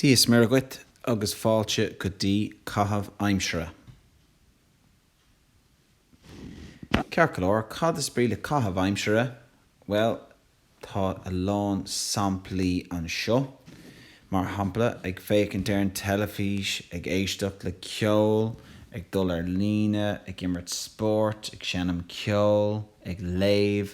Dia is Muire dhuit agus fáilte go dtí caitheamh aimsire. Ceart go leor, cad is brí le caitheamh aimsire? Bhuel, tá a lán samplaí anseo. Mar shampla, ag féachaint ar an teilifís, ag éisteacht le ceol, ag dul ar líne, ag imirt spóirt, ag seinm ceoil, ag léamh,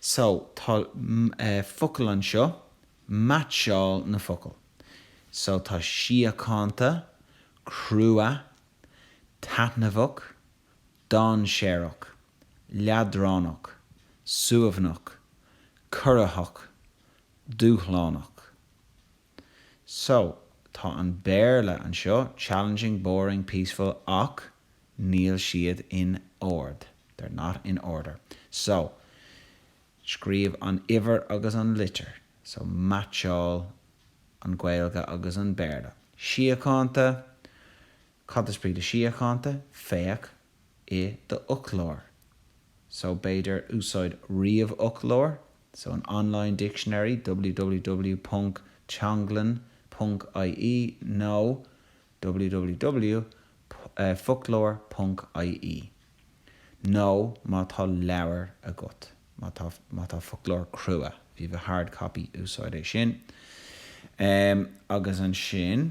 So, tá focail anseo, meaitseáil na focail. So, tá síochánta, crua, taitneamhach, dainséarach, leadránach, suaimhneach, corraitheach, dúshlánach. So, tá an Béarla anseo, challenging, boring, peaceful, ach níl siad in ord, they're not in order. So, scríobh an uimhir agus an litir. So, meaitseáil an Ghaeilge agus an Béarla. Síochánta, cad is brí le síochánta? Féach i do fhoclóir so b'fhéidir úsáid ríomhfhoclóir so an online dictionary www ponc teanglann ponc ie nó www foclóir ponc ie nó má tá leabhar agat má tá má tá foclóir crua if you've a hard copy úsáid é sin agus ansin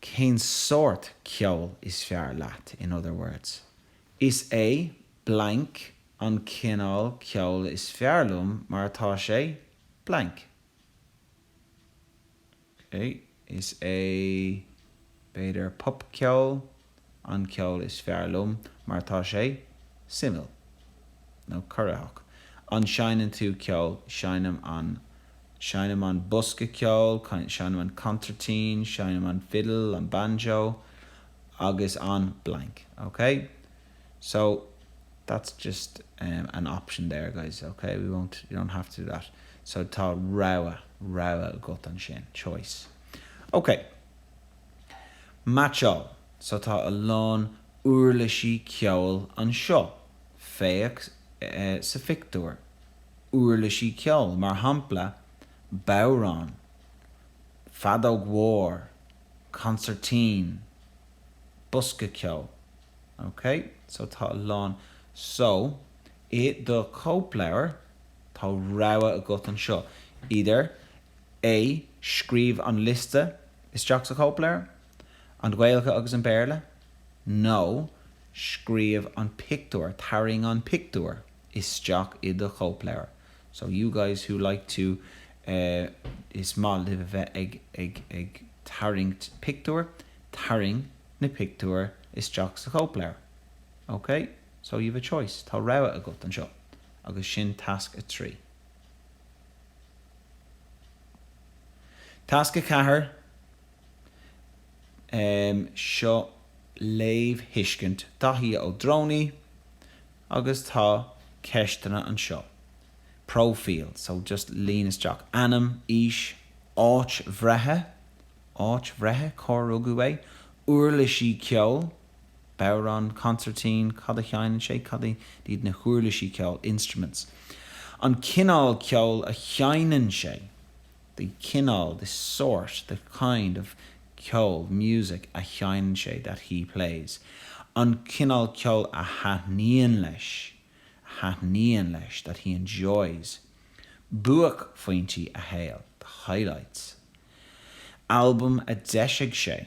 cén sórt ceoil is fearr leat, in other words. Is é blank an cineál ceoil is fearr liom mar tá sé blank. Okay. Is é, b'fhéidir, popcheol. an ceol is fearr liom mar tá sé suimiúil nó corraitheach. An seinneann tú ceol? Seinnim an seinnim an bosca ceoil, seinnim an consairtín, seinnim an fidil, an banjo agus an blank, ok? So, that's just an option there, guys, ok? You don't have to do that. So tá rogha, rogha agat ansin, choice. Ok. Meaitseáil, so tá a lán uirlisí ceoil anseo, féach sa phictiúr, uirlisí ceoil, mar shampla bodhrán, feadóg mhór, consairtín, bosca ceoil. OK? So tá a lán. So, i do chóipleabhar, tá rogha agat anseo, either A, Scríobh an liosta, isteach sa chóipleabhar, an Ghaeilge agus an Béarla, nó scríobh an pictiúr, tarraing an pictiúr isteach i do chóipleabhar. So you guys who like to eh is maith libh a bheith ag ag tarraingt pictiúr, tarraing na pictiúir isteach sa chóipleabhar. OK? So you have a choice, tá rogha agat anseo. Agus sin tasc a trí. Tasc 4, Um seo léamhthuiscint Daithí Ó Drónaí agus tá ceisteanna anseo. Próifíl, so just líon isteach ainm, aois, áit bhreithe, áit bhreithe, cár rugadh é, uirlisí ceoil, Bodhrán, Consairtín, Cad a sheinneann sé? Cad iad na huirlisí ceoil, instruments? An cineál ceoil a sheinneann sé, the cineál, the sort, the kind of ceol, music, a sheinneann sé, that he plays. An cineál ceoil a thaitníonn leis, a thaitníonn leis, that he enjoys. Buaicphointí a shaoil, the highlights. Albam a d'eisigh sé,